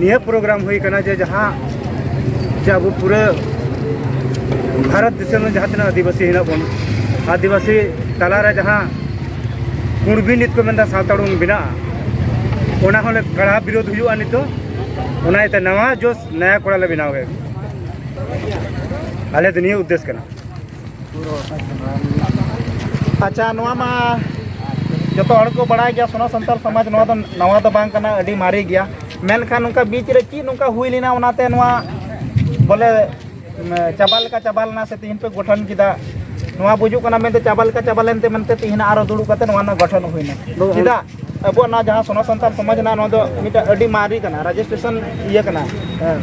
ᱱᱤᱭᱟᱹ ᱯᱨᱳᱜᱨᱟᱢ ᱦᱩᱭ ᱠᱟᱱᱟ ᱡᱮ ᱡᱟᱦᱟᱸ ᱡᱮ ᱟᱵᱚ ᱯᱩᱨᱟᱹ ᱵᱷᱟᱨᱚᱛ ᱫᱤᱥᱚᱢ ᱨᱮ ᱡᱟᱦᱟᱸ ᱛᱤᱱᱟᱹᱜ ᱟᱹᱫᱤᱵᱟᱹᱥᱤ ᱦᱮᱱᱟᱜ ᱵᱚᱱ ᱟᱹᱫᱤᱵᱟᱹᱥᱤ ᱛᱟᱞᱟᱨᱮ ᱡᱟᱦᱟᱸ ᱠᱩᱬᱵᱤ ᱱᱤᱛ ᱠᱚ ᱢᱮᱱᱫᱟ ᱥᱟᱶᱛᱟ ᱩᱰᱩᱝ ᱵᱮᱱᱟᱜᱼᱟ ᱚᱱᱟ ᱦᱚᱸᱞᱮ ᱠᱟᱲᱟ ᱵᱤᱨᱳᱫ ᱦᱩᱭᱩᱜᱼᱟ ᱱᱤᱛᱚᱜ ᱚᱱᱟ ᱤᱭᱟᱹᱛᱮ ᱱᱟᱣᱟ ᱡᱳᱥ ᱱᱟᱭᱟ ᱠᱚᱲᱟᱞᱮ ᱵᱮᱱᱟᱣ ᱠᱮᱫ ᱟᱞᱮ ᱫᱚ ᱱᱤᱭᱟᱹ ᱩᱫᱽᱫᱮᱥ ᱠᱟᱱᱟ ᱟᱪᱪᱷᱟ ᱱᱚᱣᱟ ᱢᱟ ᱡᱚᱛᱚ ᱦᱚᱲ ᱠᱚ ᱵᱟᱲᱟᱭ ᱜᱮᱭᱟ ᱥᱚᱱᱟ ᱥᱟᱱᱛᱟᱲ ᱥᱚᱢᱟᱡᱽ ᱱᱚᱣᱟ ᱫᱚ ᱱᱟᱣᱟ ᱫᱚ ᱵᱟᱝ ᱠᱟᱱᱟ ᱟᱹᱰᱤ ᱢᱟᱨᱮ ᱜᱮᱭᱟ ᱢᱮᱱᱠᱷᱟᱱ ᱱᱚᱝᱠᱟ ᱵᱤᱪ ᱨᱮ ᱪᱮᱫ ᱱᱚᱝᱠᱟ ᱦᱩᱭ ᱞᱮᱱᱟ ᱚᱱᱟᱛᱮ ᱱᱚᱣᱟ ᱵᱚᱞᱮ ᱪᱟᱵᱟ ᱞᱮᱠᱟ ᱪᱟᱵᱟ ᱞᱮᱱᱟ ᱥᱮ ᱛᱤᱦᱤᱧ ᱯᱮ ᱜᱚᱴᱷᱚᱱ ᱠᱮᱫᱟ ᱱᱚᱣᱟ ᱵᱩᱡᱩᱜ ᱠᱟᱱᱟ ᱢᱮᱱᱛᱮ ᱪᱟᱵᱟ ᱞᱮᱠᱟ ᱪᱟᱵᱟ ᱞᱮᱱᱛᱮ ᱢᱮᱱᱛᱮ ᱛᱤᱦᱤᱧ ᱟᱨᱚ ᱫᱩᱲᱩᱵ ᱠᱟᱛᱮ ᱱᱚᱣᱟ ᱨᱮᱱᱟᱜ ᱜᱚᱴᱷᱚᱱ ᱦᱩᱭᱱᱟ ᱪᱮᱫᱟᱜ ᱟᱵᱚᱣᱟᱜ ᱱᱚᱣᱟ ᱡᱟᱦᱟᱸ ᱥᱚᱱᱟ ᱥᱟᱱᱛᱟᱲ ᱥᱚᱢᱟᱡᱽ ᱨᱮᱱᱟᱜ ᱱᱚᱣᱟ ᱫᱚ ᱢᱤᱫᱴᱟᱝ ᱟᱹᱰᱤ ᱢᱟᱨᱮ ᱠᱟᱱᱟ ᱨᱮᱡᱤᱥᱴᱨᱮᱥᱚᱱ ᱤᱭᱟᱹ ᱠᱟᱱᱟ ᱦᱮᱸ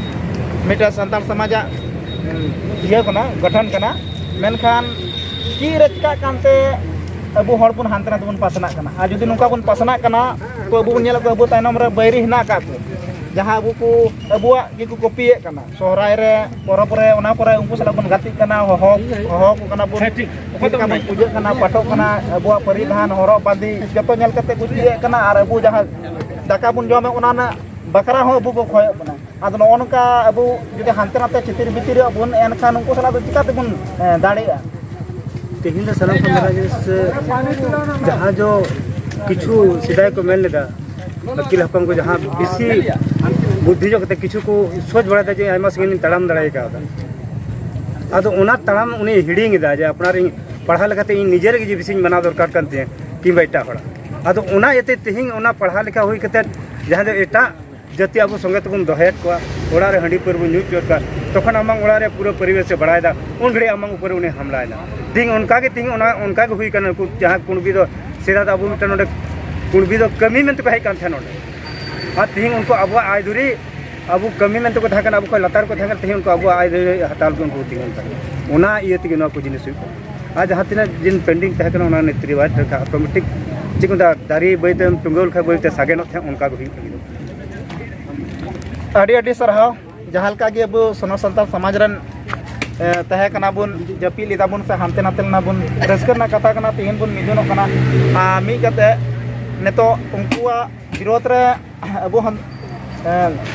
ᱢᱤᱫᱴᱟᱝ ᱥᱟᱱᱛᱟᱲ ᱥᱚᱢᱟᱡᱟᱜ ᱤᱭᱟᱹ ᱠᱟᱱᱟ ᱜᱚᱴᱷᱚᱱ ᱠᱟᱱᱟ ᱢᱮᱱᱠᱷᱟᱱ ᱪᱮᱫ ᱨᱮ ᱪᱤᱠᱟᱹᱜ ᱠᱟᱱᱛᱮ ᱟᱵᱚ ᱦᱚᱲ ᱵᱚᱱ ᱦᱟᱱᱛᱮ ᱱᱟᱛᱮ ᱵᱚᱱ ᱯᱟᱥᱱᱟᱜ ᱠᱟᱱᱟ ᱟᱨ ᱡᱩᱫᱤ ᱱᱚᱝᱠᱟ ᱵᱚᱱ ᱯᱟᱥᱱᱟᱜ ᱠᱟᱱᱟ ᱛᱚ ᱟᱵᱚ ᱵᱚᱱ ᱧᱮᱞᱮᱫ ᱠᱚᱣᱟ ᱟᱵᱚ ᱛᱟᱭᱱᱚᱢ ᱨᱮ ᱵᱟᱹᱭᱨᱤ ᱦᱮᱱᱟᱜ ᱟᱠᱟᱫ ᱠᱚ ᱡᱟᱦᱟᱸ ᱟᱵᱚ ᱠᱚ ᱟᱵᱚᱣᱟᱜ ᱜᱮᱠᱚ ᱠᱚᱯᱤᱭᱮᱫ ᱠᱟᱱᱟ ᱥᱚᱦᱨᱟᱭ ᱨᱮ ᱯᱚᱨᱚᱵᱽ ᱨᱮ ᱚᱱᱟ ᱠᱚᱨᱮ ᱩᱱᱠᱩ ᱥᱟᱞᱟᱜ ᱵᱚᱱ ᱜᱟᱛᱮᱜ ᱠᱟᱱᱟ ᱦᱚᱦᱚ ᱦᱚᱦᱚ ᱠᱚ ᱠᱟᱱᱟ ᱵᱚᱱ ᱪᱮᱫ ᱞᱮᱠᱟ ᱵᱚᱱ ᱯᱩᱡᱟᱹᱜ ᱠᱟᱱᱟ ᱯᱟᱴᱚᱜ ᱠᱟᱱᱟ ᱟᱵᱚᱣᱟᱜ ᱯᱟᱹᱨᱤᱫᱷᱟᱱ ᱦᱚᱨᱚᱜ ᱵᱟᱸᱫᱮ ᱡᱚᱛᱚ ᱧᱮᱞ ᱠᱟᱛᱮ ᱠᱚ ᱪᱮᱫ ᱠᱟᱱᱟ ᱟᱨ ᱟᱵᱚ ᱡᱟᱦᱟᱸ ᱫᱟᱠᱟ ᱵᱚᱱ ᱡᱚᱢᱟ ᱚᱱᱟ ᱨᱮᱱᱟᱜ ᱵᱟᱠᱷᱨᱟ ᱦᱚᱸ ᱟᱵᱚ ᱠᱚ ᱠᱷᱚᱭᱚᱜ ᱠᱟᱱᱟ ᱟᱫᱚ ᱱᱚᱜᱼᱚ ᱱᱚᱝᱠᱟ ᱟᱵᱚ ᱡᱩᱫᱤ ᱦᱟᱱᱛᱮ ᱱᱟᱛᱮ ᱪᱤᱛᱤᱨ ᱵᱤᱛᱤᱨ ᱟᱵᱚᱱ ᱮᱱᱠᱷᱟᱱ ᱩᱱᱠᱩ ᱥᱟᱞᱟᱜ ᱫᱚ ᱪᱤᱠᱟ ᱛᱮᱵᱚᱱ ᱫᱟᱲᱮᱭᱟᱜᱼᱟ ᱛᱮᱦᱮᱧ ᱫᱚ ᱥᱟᱱᱟᱢ ᱠᱚ ᱢᱮᱱᱟ ᱡᱮ ᱡᱟᱦᱟᱸ ᱫᱚ ᱠᱤᱪᱷᱩ ᱥᱮᱫᱟᱭ ᱠᱚ ᱢᱮᱱ ᱞᱮᱫᱟ ᱟᱹᱠᱤᱞ ᱦᱟᱯᱟᱝ ᱠᱚ ᱡᱟᱦᱟᱸ ᱵᱮᱥᱤ ᱵᱩᱫᱽᱫᱷᱤ ᱧᱚᱜ ᱠᱟᱛᱮ ᱠᱤᱪᱷᱩ ᱠᱚ ᱥᱳᱪ ᱵᱟᱲᱟᱭᱮᱫᱟ ᱡᱮ ᱟᱭᱢᱟ ᱥᱟᱺᱜᱤᱧ ᱞᱤᱧ ᱛᱟᱲᱟᱢ ᱫᱟᱲᱮ ᱠᱟᱣᱫᱟ ᱟᱫᱚ ᱚᱱᱟ ᱛᱟᱲᱟᱢ ᱩᱱᱤ ᱦᱤᱲᱤᱧ ᱮᱫᱟ ᱡᱮ ᱟᱯᱱᱟᱨ ᱤᱧ ᱯᱟᱲᱦᱟᱣ ᱞᱮᱠᱟᱛᱮ ᱤᱧ ᱱᱤᱡᱮᱨ ᱜᱮ ᱵᱮᱥᱤᱧ ᱢᱟᱱᱟᱣ ᱫᱚᱨᱠᱟᱨ ᱠᱟᱱ ᱛᱤᱧᱟᱹ ᱠᱤᱝᱵᱟ ᱮᱴᱟᱜ ᱦᱚᱲᱟᱜ ᱟᱫᱚ ᱚᱱᱟ ᱤᱭᱟᱹᱛᱮ ᱛᱮᱦᱮᱧ ᱚᱱᱟ ᱯᱟᱲᱦᱟᱣ ᱞᱮᱠᱟ ᱦᱩᱭ ᱠᱟᱛᱮ ᱡᱟᱦᱟᱸ ᱫᱚ ᱮᱴᱟᱜ ᱡᱟᱛᱮ ᱟᱵᱚ ᱥᱚᱸᱜᱮ ᱛᱮᱵᱚᱱ ᱫᱚᱦᱚᱭᱮᱫ ᱠᱚᱣᱟ ᱚᱲᱟᱜ ᱨᱮ ᱦᱟᱺᱰᱤ ᱯᱟᱹᱣᱨᱟᱹ ᱧᱩ ᱦᱚᱪᱚᱭᱮᱫ ᱠᱚᱣᱟ ᱛᱚᱠᱷᱚᱱ ᱟᱢᱟᱝ ᱚᱲᱟᱜ ᱨᱮ ᱯᱩᱨᱟᱹ ᱯᱚᱨᱤᱵᱮᱥᱮ ᱵᱟᱲᱟᱭᱮᱫᱟ ᱩᱱ ᱜᱷᱟᱹᱲᱤᱡ ᱟᱢᱟᱝ ᱩᱯᱚᱨᱮ ᱩᱱᱤ ᱦᱟᱢᱞᱟᱭᱮᱱᱟ ᱛᱮᱦᱮᱧ ᱚᱱᱠᱟ ᱜᱮ ᱛᱮᱦᱮᱧ ᱚᱱᱟ ᱚᱱᱠᱟ ᱜᱮ ᱦᱩᱭ ᱠᱟᱱᱟ ᱩᱱᱠᱩ ᱡᱟᱦᱟᱸ ᱠᱩᱬᱵᱤ ᱫᱚ ᱥᱮᱫᱟᱭ ᱫᱚ ᱟᱵᱚ ᱢᱤᱫᱴᱟᱝ ᱱᱚᱰᱮ ᱠᱩᱬᱵᱤ ᱫᱚ ᱠᱟᱹᱢᱤ ᱢᱮᱱᱛᱮ ᱠᱚ ᱦᱮᱡ ᱠᱟᱱ ᱛᱟᱦᱮᱸ ᱱᱚᱰᱮ ᱟᱨ ᱛᱮᱦᱮᱧ ᱩᱱᱠᱩ ᱟᱵᱚᱣᱟᱜ ᱟᱭ ᱫᱩᱨᱤ ᱟᱵᱚ ᱠᱟᱹᱢᱤ ᱢᱮᱱᱛᱮ ᱠᱚ ᱛᱟᱦᱮᱸ ᱠᱟᱱᱟ ᱟᱵᱚ ᱠᱷᱚᱱ ᱞᱟᱛᱟᱨ ᱠᱚ ᱛᱟᱦᱮᱸ ᱠᱟᱱᱟ ᱛᱮᱦᱮᱧ ᱩᱱᱠᱩ ᱟᱵᱚᱣᱟᱜ ᱟᱭ ᱫᱩᱨᱤ ᱦᱟᱛᱟᱣ ᱞᱟᱹᱜᱤᱫ ᱩᱱᱠᱩ ᱛᱤᱸᱜᱩᱱ ᱠᱟᱱᱟ ᱚᱱᱟ ᱤᱭᱟᱹ ᱛᱮᱜᱮ ᱱᱚᱣᱟ ᱠᱚ ᱡᱤᱱᱤᱥ ᱦᱩᱭᱩᱜ ᱠᱟᱱᱟ ᱟᱨ ᱡᱟᱦᱟᱸ ᱛᱤᱱᱟᱹᱜ ᱡᱤᱱ ᱯᱮᱱᱰᱤᱝ ᱛᱟᱦᱮᱸ ᱠᱟᱱᱟ ᱚᱱᱟ ᱱᱤᱛ ᱨᱮ ᱵᱟᱭ ᱚᱴᱳᱢᱮᱴᱤᱠ ᱪᱮᱫ ᱠᱚ ᱢᱮᱛᱟᱜᱼᱟ ᱫᱟᱨᱮ ᱵᱟᱹᱭᱛᱮᱢ ᱴᱩᱸᱜᱟᱹᱣ ᱞᱮᱠᱷᱟᱱ ᱵᱟᱹᱭᱛᱮ ᱥᱟᱜᱮᱱᱚᱜ ᱛᱟᱦᱮᱸᱫ ᱚᱱᱠᱟ ᱜᱮ ᱦᱩᱭᱩᱜ ᱞᱟᱹᱜᱤᱫᱚᱜ ᱠᱟᱱᱟ ᱟᱹᱰᱤ ᱟᱹᱰᱤ ᱥᱟᱨᱦᱟᱣ ᱡᱟᱦᱟᱸ ᱞᱮᱠᱟ ᱜᱮ ᱟᱵᱚ ᱥᱚᱱᱚ ᱥᱟᱱᱛᱟᱲ ᱥᱚᱢᱟᱡᱽ ᱨᱮᱱ ᱛᱟᱦᱮᱸ ᱠᱟᱱᱟ ᱵᱚᱱ ᱡᱟᱹᱯᱤᱫ ᱞᱮᱫᱟ ᱵᱚᱱ ᱥᱮ ᱦᱟᱱᱛᱮ ᱱᱟᱛᱮ ᱞᱮᱱᱟ ᱵᱚᱱ ᱨᱟᱹᱥᱠᱟᱹ ᱨᱮᱱᱟᱜ ᱠᱟᱛᱷᱟ ᱠᱟᱱᱟ ᱛᱮᱦᱮᱧ ᱵᱚᱱ ᱢᱤᱫᱚᱜ ᱠᱟᱱᱟ ᱟᱨ ᱢᱤᱫ ᱠᱟᱛᱮ ᱱᱤᱛᱚᱜ ᱩᱱᱠᱩᱣᱟᱜ ᱵᱤᱨᱳᱫ ᱨᱮ ᱟᱵᱚ ᱦᱚᱸ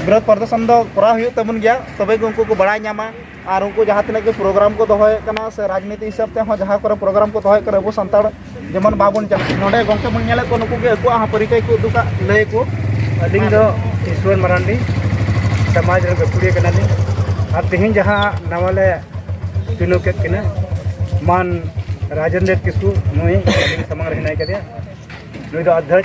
ᱵᱤᱨᱳᱫ ᱯᱨᱚᱫᱚᱨᱥᱚᱱ ᱫᱚ ᱠᱚᱨᱟᱣ ᱦᱩᱭᱩᱜ ᱛᱟᱵᱚᱱ ᱜᱮᱭᱟ ᱛᱚᱵᱮ ᱜᱮ ᱩᱱᱠᱩ ᱠᱚ ᱵᱟᱲᱟᱭ ᱧᱟᱢᱟ ᱟᱨ ᱩᱱᱠᱩ ᱡᱟᱦᱟᱸ ᱛᱤᱱᱟᱹᱜ ᱜᱮ ᱯᱨᱳᱜᱨᱟᱢ ᱠᱚ ᱫᱚᱦᱚᱭᱮᱫ ᱠᱟᱱᱟ ᱥᱮ ᱨᱟᱡᱽᱱᱤᱛᱤ ᱦᱤᱥᱟᱹᱵ ᱛᱮᱦᱚᱸ ᱡᱟᱦᱟᱸ ᱠᱚᱨᱮ ᱯᱨᱳᱜᱨᱟᱢ ᱠᱚ ᱫᱚᱦᱚᱭᱮᱫ ᱠᱟᱱᱟ ᱟᱵᱚ ᱥᱟᱱᱛᱟᱲ ᱡᱮᱢᱚᱱ ᱵᱟᱵᱚᱱ ᱪᱟᱞᱟᱜ ᱱᱚᱰᱮ ᱜᱚᱢᱠᱮ ᱵᱚᱱ ᱧᱮᱞᱮᱫ ᱠᱚᱣᱟ ᱱᱩᱠᱩ ᱜᱮ ᱟᱠᱚᱣᱟᱜ ᱦᱚᱸ ᱯᱚᱨᱤᱪᱚᱭ ᱠᱚ ᱩᱫᱩᱜᱟ ᱞᱟᱹᱭ ᱟᱠᱚ ᱟᱹᱞᱤᱧ ᱫᱚ ᱤᱥᱣᱚᱨ ᱢᱟᱨᱟᱱᱰᱤ ᱥᱚᱢᱟᱡᱽ ᱨᱮ ᱜᱟᱹᱠᱷᱩᱲᱤᱭᱟᱹ ᱠᱟᱱᱟᱞᱤᱧ ᱟᱨ ᱛᱮᱦᱮᱧ ᱡᱟᱦᱟᱸ ᱱᱟᱣᱟ ᱞᱮ ᱪᱩᱱᱟᱹᱣ ᱠᱮᱫ ᱠᱤᱱᱟ ᱢᱟᱱ ᱨᱟᱡᱮᱱᱫᱨᱚ ᱠᱤᱥᱠᱩ ᱱᱩᱭ ᱟᱹᱞᱤᱧ ᱥᱟᱢᱟᱝ ᱨᱮ ᱦᱮᱱᱟᱭ ᱠᱟᱫᱮᱭᱟ ᱱᱩᱭ ᱫᱚ ᱟᱫᱽᱫᱷᱟᱭ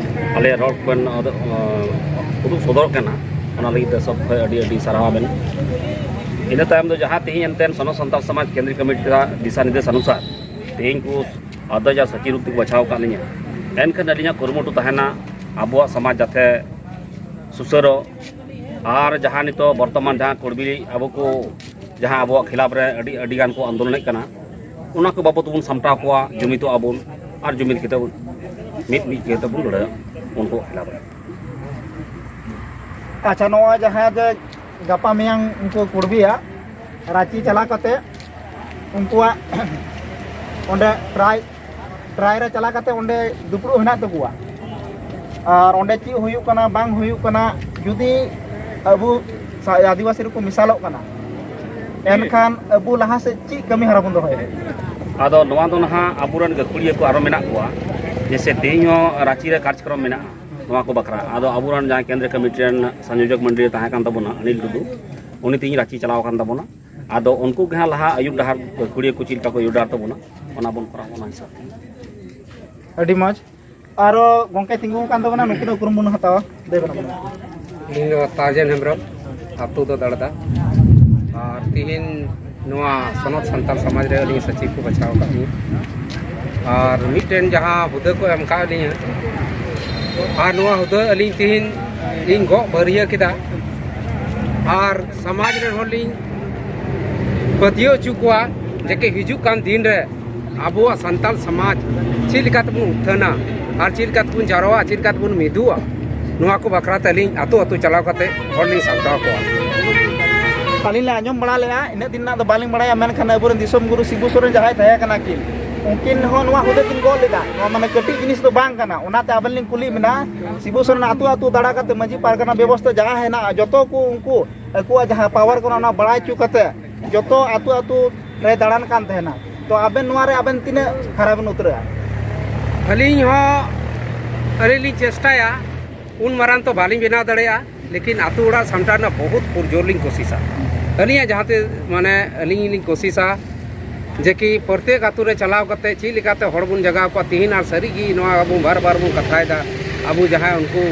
ᱟᱞᱮᱭᱟᱜ ᱨᱚᱲ ᱠᱚᱵᱮᱱ ᱩᱫᱩᱜ ᱥᱚᱫᱚᱨᱚᱜ ᱠᱟᱱᱟ ᱚᱱᱟ ᱞᱟᱹᱜᱤᱫ ᱛᱮ ᱥᱚᱵ ᱠᱷᱚᱱ ᱟᱹᱰᱤ ᱟᱹᱰᱤ ᱥᱟᱨᱦᱟᱣ ᱟᱵᱮᱱ ᱤᱱᱟᱹ ᱛᱟᱭᱚᱢ ᱫᱚ ᱡᱟᱦᱟᱸ ᱛᱮᱦᱮᱧ ᱮᱱᱛᱮ ᱥᱚᱱᱚ ᱥᱟᱱᱛᱟᱲ ᱥᱚᱢᱟᱡᱽ ᱠᱮᱱᱫᱨᱤ ᱠᱚᱢᱤᱴᱤ ᱨᱮᱱᱟᱜ ᱫᱤᱥᱟ ᱱᱤᱨᱫᱮᱥ ᱚᱱᱩᱥᱟᱨ ᱛᱮᱦᱮᱧ ᱠᱚ ᱟᱫᱚᱡ ᱟᱨ ᱥᱟᱹᱪᱤ ᱨᱩᱯ ᱛᱮᱠᱚ ᱵᱟᱪᱷᱟᱣ ᱟᱠᱟᱫ ᱞᱤᱧᱟ ᱮᱱᱠᱷᱟᱱ ᱟᱹᱞᱤᱧᱟᱜ ᱠᱩᱨᱩᱢᱩᱴᱩ ᱛᱟᱦᱮᱱᱟ ᱟᱵᱚᱣᱟᱜ ᱥᱚᱢᱟᱡᱽ ᱡᱟᱛᱮ ᱥᱩᱥᱟᱹᱨᱚᱜ ᱟᱨ ᱡᱟᱦᱟᱸ ᱱᱤᱛᱚᱜ ᱵᱚᱨᱛᱚᱢᱟᱱ ᱡᱟᱦᱟᱸ ᱠᱚᱲᱵᱤᱞᱤ ᱟᱵᱚ ᱠᱚ ᱡᱟᱦᱟᱸ ᱟᱵᱚᱣᱟᱜ ᱠᱷᱤᱞᱟᱯ ᱨᱮ ᱟᱹᱰᱤ ᱟᱹᱰᱤ ᱜᱟᱱ ᱠᱚ ᱟᱱᱫᱳᱞᱚᱱᱮᱫ ᱠᱟᱱᱟ ᱚᱱᱟ ᱠᱚ ᱵᱟᱵᱚᱛ ᱵᱚᱱ ᱥᱟᱢᱴᱟᱣ ᱠᱚᱣᱟ ᱡᱩᱢᱤᱫᱚᱜ ᱟᱵᱚᱱ ᱟᱨ ᱡᱩᱢᱤᱫ ᱠᱟᱛᱮ ᱢᱤᱫ ᱢᱤᱫ ᱠᱟᱛᱮ ᱵᱚᱱ ᱞᱟᱹᱲᱦᱟᱹᱭᱟ ᱩᱱᱠᱩ ᱠᱷᱤᱞᱟᱯ ᱨᱮ ᱟᱪᱪᱷᱟ ᱱᱚᱣᱟ ᱡᱟᱦᱟᱸ ᱡᱮ ᱜᱟᱯᱟ ᱢᱮᱭᱟᱝ ᱩᱱᱠᱩ ᱠᱩᱲᱵᱤᱭᱟ ᱨᱟᱸᱪᱤ ᱪᱟᱞᱟᱣ ᱠᱟᱛᱮ ᱩᱱᱠᱩᱣᱟᱜ ᱚᱸᱰᱮ ᱴᱨᱟᱭ ᱴᱨᱟᱭ ᱨᱮ ᱪᱟᱞᱟᱣ ᱠᱟᱛᱮ ᱚᱸᱰᱮ ᱫᱩᱯᱲᱩᱵ ᱦᱮᱱᱟᱜ ᱛᱟᱠᱚᱣᱟ ᱟᱨ ᱚᱸᱰᱮ ᱪᱮᱫ ᱦᱩᱭᱩᱜ ᱠᱟᱱᱟ ᱵᱟᱝ ᱦᱩᱭᱩᱜ ᱠᱟᱱᱟ ᱡᱩᱫᱤ ᱟᱵᱚ ᱟᱹᱫᱤᱵᱟᱹᱥᱤ ᱨᱮᱠᱚ ᱢᱮᱥᱟᱞᱚᱜ ᱠᱟᱱᱟ ᱮᱱᱠᱷᱟᱱ ᱟᱵᱚ ᱞᱟᱦᱟ ᱥᱮᱫ ᱪᱮᱫ ᱠᱟᱹᱢᱤ ᱦᱚᱨᱟ ᱵᱚᱱ ᱫᱚᱦᱚᱭᱟ ᱟᱫᱚ ᱱᱚᱣᱟ ᱫᱚ ᱱᱟᱦᱟᱜ ᱟᱵᱚᱨᱮᱱ ᱜᱟᱹᱠᱷᱩᱲᱤᱭᱟᱹ ᱠᱚ ᱟᱨᱚ ᱢᱮᱱᱟᱜ ᱠᱚᱣᱟ ᱡᱮᱥᱮ ᱛᱮᱦᱮᱧ ᱦᱚᱸ ᱨᱟᱺᱪᱤ ᱨᱮ ᱠᱟᱨᱡᱚᱠᱨᱚᱢ ᱢᱮᱱᱟᱜᱼᱟ ᱱᱚᱣᱟ ᱠᱚ ᱵᱟᱠᱷᱨᱟ ᱟᱫᱚ ᱟᱵᱚᱨᱮᱱ ᱡᱟᱦᱟᱸᱭ ᱠᱮᱱᱫᱨᱤᱭᱚ ᱠᱚᱢᱤᱴᱤ ᱨᱮᱱ ᱥᱚᱝᱡᱳᱡᱚᱠ ᱢᱚᱱᱰᱤ ᱨᱮ ᱛᱟᱦᱮᱸ ᱠᱟᱱ ᱛᱟᱵᱚᱱᱟ ᱚᱱᱤᱞ ᱴᱩᱰᱩ ᱩᱱᱤ ᱛᱮᱦᱮᱧ ᱨᱟᱺᱪᱤ ᱪᱟᱞᱟᱣ ᱟᱠᱟᱱ ᱛᱟᱵᱚᱱᱟ ᱟᱫᱚ ᱩᱱᱠᱩ ᱜᱮ ᱦᱟᱸᱜ ᱞᱟᱦᱟ ᱟᱹᱭᱩᱵ ᱰᱟᱦᱟᱨ ᱜᱟᱹᱠᱷᱩᱲᱤᱭᱟᱹ ᱠᱚ ᱪᱮᱫ ᱞᱮᱠᱟ ᱠᱚ ᱟᱹᱭᱩᱵ ᱰᱟᱦᱟᱨ ᱛᱟᱵᱚᱱᱟ ᱚᱱᱟ ᱵᱚᱱ ᱠᱚᱨᱟᱣᱟ ᱚᱱᱟ ᱦᱤᱥᱟᱹᱵ ᱟᱹᱰᱤ ᱢᱚᱡᱽ ᱟᱨᱚ ᱜᱚᱝᱠᱮ ᱛᱤᱸᱜᱩ ᱟᱠᱟᱱ ᱛᱟᱵᱚᱱᱟ ᱱᱩᱠᱩ ᱫᱚ ᱩᱯᱨᱩᱢ ᱵᱚᱱ ᱦᱟᱛᱟᱣᱟ ᱞᱟᱹᱭ ᱵᱚᱱ ᱤᱧ ᱫᱚ ᱛᱟᱡᱮᱱ ᱦᱮᱢᱵᱨᱚᱢ ᱟᱛᱳ ᱫᱚ ᱫᱟᱲᱫᱟ ᱟᱨ ᱛᱤᱦᱤᱧ ᱱᱚᱣᱟ ᱥᱚᱱᱚᱛ ᱥᱟᱱᱛᱟᱲ ᱥᱚᱢᱟᱡᱽ ᱨᱮ ᱟᱹᱞᱤᱧ ᱥᱚᱪᱤᱵᱽ ᱠᱚ ᱵᱟᱪᱷᱟᱣ ᱟᱠᱟᱫ ᱞᱤᱧ ᱟᱨ ᱢᱤᱫᱴᱮᱱ ᱡᱟᱦᱟᱸ ᱦᱩᱫᱟᱹ ᱠᱚ ᱮᱢ ᱟᱠᱟᱫ ᱞᱤᱧᱟ ᱟᱨ ᱱᱚᱣᱟ ᱦᱩᱫᱟᱹ ᱟᱹᱞᱤᱧ ᱛᱤᱦᱤᱧ ᱞᱤᱧ ᱜᱚᱜ ᱵᱟᱹᱨᱭᱟᱹ ᱠᱮᱫᱟ ᱟᱨ ᱥᱚᱢᱟᱡᱽ ᱨᱮᱱ ᱦᱚᱲ ᱞᱤᱧ ᱯᱟᱹᱛᱭᱟᱹᱣ ᱦᱚᱪᱚ ᱠᱚᱣᱟ ᱡᱮᱠᱮ ᱦᱤᱡᱩᱜ ᱠᱟᱱ ᱫᱤᱱ ᱨᱮ ᱟᱵᱚᱣᱟᱜ ᱥᱟᱱᱛᱟᱲ ᱥᱚᱢᱟᱡᱽ ᱪᱮᱫ ᱞᱮᱠᱟ ᱛᱮᱵᱚᱱ ᱩᱛᱷᱟᱹᱱᱟ ᱟᱨ ᱪᱮᱫ ᱞᱮᱠᱟ ᱛᱮᱵᱚᱱ ᱡᱟᱨᱣᱟᱜᱼᱟ ᱪᱮᱫ ᱞᱮᱠᱟ ᱛᱮᱵᱚᱱ ᱢᱤᱫᱚᱜᱼᱟ ᱱᱚᱣᱟ ᱠᱚ ᱵᱟᱠᱷᱨᱟ ᱛᱮ ᱟᱹᱞᱤᱧ ᱟᱛᱳ ᱟᱛᱳ ᱪᱟᱞᱟᱣ ᱠᱟᱛᱮ ᱦᱚᱲ ᱞᱤᱧ ᱥᱟᱢᱴᱟᱣ ᱠᱚᱣᱟ ᱟᱹᱞᱤᱧ ᱞᱮ ᱟᱸᱡᱚᱢ ᱵᱟᱲᱟ ᱞᱮᱜᱼᱟ ᱤᱱᱟᱹᱜ ᱫᱤᱱ ᱨᱮᱱᱟᱜ ᱫᱚ ᱵᱟᱹᱞᱤᱧ ᱵᱟᱲᱟᱭᱟ ᱢᱮᱱᱠᱷᱟᱱ ᱟᱵᱚᱨᱮᱱ ᱫᱤᱥᱚᱢ ᱜᱩᱨᱩ ᱥᱤᱵᱩ ᱥᱚᱨᱮᱱ ᱡᱟᱦᱟᱸᱭ ᱛᱟᱦᱮᱸ ᱠᱟᱱᱟ ᱠᱤᱱ ᱩᱱᱠᱤᱱ ᱦᱚᱸ ᱱᱚᱣᱟ ᱦᱩᱫᱟᱹ ᱠᱤᱱ ᱜᱚᱜ ᱞᱮᱫᱟ ᱱᱚᱣᱟ ᱢᱟᱱᱮ ᱠᱟᱹᱴᱤᱡ ᱡᱤᱱᱤᱥ ᱫᱚ ᱵᱟᱝ ᱠᱟᱱᱟ ᱚᱱᱟᱛᱮ ᱟᱵᱮᱱ ᱞᱤᱧ ᱠᱩᱞᱤ ᱵᱮᱱᱟ ᱥᱤᱵᱩ ᱥᱚᱨᱮᱱ ᱟᱛᱳ ᱟᱛᱳ ᱫᱟᱬᱟ ᱠᱟᱛᱮ ᱢᱟᱹᱡᱷᱤ ᱯᱟᱨᱜᱟᱱᱟ ᱵᱮᱵᱚᱥᱛᱷᱟ ᱡᱟᱦᱟᱸ ᱦᱮᱱᱟᱜᱼᱟ ᱡᱚᱛᱚ ᱠᱚ ᱩᱱᱠᱩ ᱟᱠᱚᱣᱟᱜ ᱡᱟᱦᱟᱸ ᱯᱟᱣᱟᱨ ᱠᱟᱱᱟ ᱚᱱᱟ ᱵᱟᱲᱟᱭ ᱦᱚᱪᱚ ᱠᱟᱛᱮ ᱡᱚᱛᱚ ᱟᱹᱛᱩ ᱟᱹᱛᱩ ᱨᱮ ᱫᱟᱬᱟᱱ ᱠᱟᱱ ᱛᱟᱦᱮᱱᱟ ᱛᱚ ᱟᱵᱮᱱ ᱱᱚᱣᱟ ᱨᱮ ᱟᱵᱮᱱ ᱛᱤᱱᱟᱹᱜ ᱠᱷᱟᱨᱟ ᱵᱮᱱ ᱩᱛᱟᱹᱨᱚᱜᱼᱟ ᱟᱹᱞᱤᱧ ᱦᱚᱸ ᱟᱹᱰᱤ ᱞᱤᱧ ᱪᱮᱥᱴᱟᱭᱟ ᱩᱱ ᱢᱟᱨᱟᱝ ᱛᱚ ᱵᱟᱹᱞᱤᱧ ᱵᱮᱱᱟᱣ ᱫᱟᱲᱮᱭᱟᱜᱼᱟ ᱞᱮᱠᱤᱱ ᱟᱹᱛᱩ ᱚᱲᱟᱜ ᱥᱟᱢᱴᱟᱣ ᱨᱮᱱᱟᱜ ᱵᱚᱦᱩᱛ ᱯᱩᱨᱡᱳᱨ ᱞᱤᱧ ᱠᱳᱥᱤᱥᱟ ᱟᱹᱞᱤᱧᱟᱜ ᱡᱟᱦᱟᱸ ᱛᱤᱥ ᱢᱟᱱᱮ ᱟᱹᱞᱤᱧ ᱞᱤᱧ ᱠᱳᱥᱤᱥᱟ ᱡᱮ ᱠᱤ ᱯᱨᱚᱛᱮᱠ ᱟᱹᱛᱩ ᱨᱮ ᱪᱟᱞᱟᱣ ᱠᱟᱛᱮ ᱪᱮᱫ ᱞᱮᱠᱟᱛᱮ ᱦᱚᱲ ᱵᱚᱱ ᱡᱟᱜᱟᱣ ᱠᱚᱣᱟ ᱛᱤᱦᱤᱧ ᱟᱨ ᱥᱟᱹᱨᱤ ᱜᱮ ᱱᱚᱣᱟ ᱟᱵᱚ ᱵᱟᱨ ᱵᱟᱨ ᱵᱚᱱ ᱠᱟᱛᱷᱟᱭᱮᱫᱟ ᱟᱵᱚ ᱡᱟᱦᱟᱸᱭ ᱩᱱᱠᱩ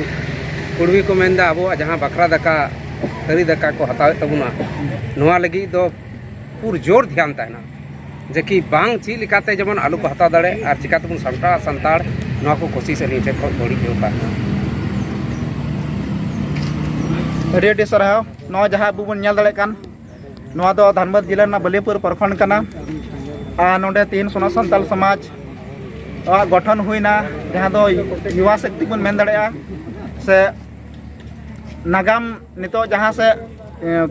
ᱠᱩᱲᱢᱤ ᱠᱚ ᱢᱮᱱᱫᱟ ᱟᱵᱚᱣᱟᱜ ᱡᱟᱦᱟᱸ ᱵᱟᱠᱷᱨᱟ ᱫᱟᱠᱟ ᱛᱷᱟᱹᱨᱤ ᱫᱟᱠᱟ ᱠᱚ ᱦᱟᱛᱟᱣᱮᱫ ᱛᱟᱵᱚᱱᱟ ᱱᱚᱣᱟ ᱞᱟᱹᱜᱤᱫ ᱫᱚ ᱯᱩᱨᱟᱹ ᱡᱳᱨ ᱫᱷᱮᱭᱟᱱ ᱛᱟᱦᱮᱱᱟ ᱡᱮ ᱠᱤ ᱵᱟᱝ ᱪᱮᱫ ᱞᱮᱠᱟᱛᱮ ᱡᱮᱢᱚᱱ ᱟᱞᱚ ᱠᱚ ᱦᱟᱛᱟᱣ ᱫᱟᱲᱮᱜ ᱟᱨ ᱪᱤᱠᱟ ᱛᱮᱵᱚᱱ ᱥᱟᱢᱴᱟᱣᱟ ᱥᱟᱱᱛᱟᱲ ᱱᱚᱣᱟ ᱠᱚ ᱠᱳᱥᱤᱥ ᱟᱹᱞᱤᱧ ᱴᱷᱮᱱ ᱠᱷᱚᱱ ᱵᱟᱹᱲᱤᱡ ᱡᱳᱨ ᱛᱟᱦᱮᱱᱟ ᱟᱹᱰᱤ ᱟᱹᱰᱤ ᱥᱟᱨᱦᱟᱣ ᱱᱚᱣᱟ ᱡᱟᱦᱟᱸ ᱟᱵᱚ ᱵᱚᱱ ᱧᱮᱞ ᱫᱟᱲᱮᱭᱟᱜ ᱠᱟᱱ ᱱᱚᱣᱟ ᱫᱚ ᱫᱷᱟᱱᱵᱟᱫᱽ ᱡᱮᱞᱟ ᱨᱮᱱᱟᱜ ᱵᱟᱹᱞᱤᱭᱟᱹᱯᱩᱨ ᱯᱨᱚᱠᱷᱚᱸᱰ ᱠᱟᱱᱟ ᱟᱨ ᱱᱚᱰᱮ ᱛᱤᱦᱤᱧ ᱥᱚᱱᱟ ᱥᱟᱱᱛᱟᱲ ᱥᱚᱢᱟᱡᱽ ᱟᱜ ᱜᱚᱴᱷᱚᱱ ᱦᱩᱭᱱᱟ ᱡᱟᱦᱟᱸ ᱫᱚ ᱡᱩᱣᱟ ᱥᱚᱠᱛᱤ ᱵᱚᱱ ᱢᱮᱱ ᱫᱟᱲᱮᱭᱟᱜᱼᱟ ᱥᱮ ᱱᱟᱜᱟᱢ ᱱᱤᱛᱚᱜ ᱡᱟᱦᱟᱸ ᱥᱮᱫ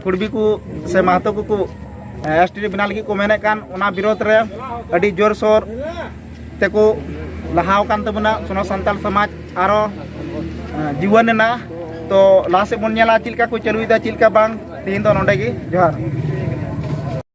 ᱠᱩᱲᱵᱤ ᱠᱚ ᱥᱮ ᱢᱟᱦᱟᱛᱚ ᱠᱚᱠᱚ ᱮᱥ ᱴᱤ ᱵᱮᱱᱟᱣ ᱞᱟᱹᱜᱤᱫ ᱠᱚ ᱢᱮᱱᱮᱫ ᱠᱟᱱ ᱚᱱᱟ ᱵᱤᱨᱳᱫᱷ ᱨᱮ ᱟᱹᱰᱤ ᱡᱳᱨᱥᱳᱨ ᱛᱮᱠᱚ ᱞᱟᱦᱟᱣ ᱟᱠᱟᱱ ᱛᱟᱵᱚᱱᱟ ᱥᱚᱱᱚ ᱥᱟᱱᱛᱟᱲ ᱥᱚᱢᱟᱡᱽ ᱟᱨᱚ ᱡᱩᱣᱟᱹᱱ ᱮᱱᱟ ᱛᱚ ᱞᱟᱦᱟ ᱥᱮᱫ ᱵᱚᱱ ᱧᱮᱞᱟ ᱪᱮᱫ ᱞᱮᱠᱟ ᱠᱚ ᱪᱟᱹᱞᱩᱭᱮᱫᱟ ᱪᱮᱫ ᱞᱮᱠᱟ ᱵᱟᱝ ᱛᱮᱦᱮᱧ ᱫᱚ ᱱᱚᱰᱮ ᱜᱮ ᱡᱚᱦᱟᱨ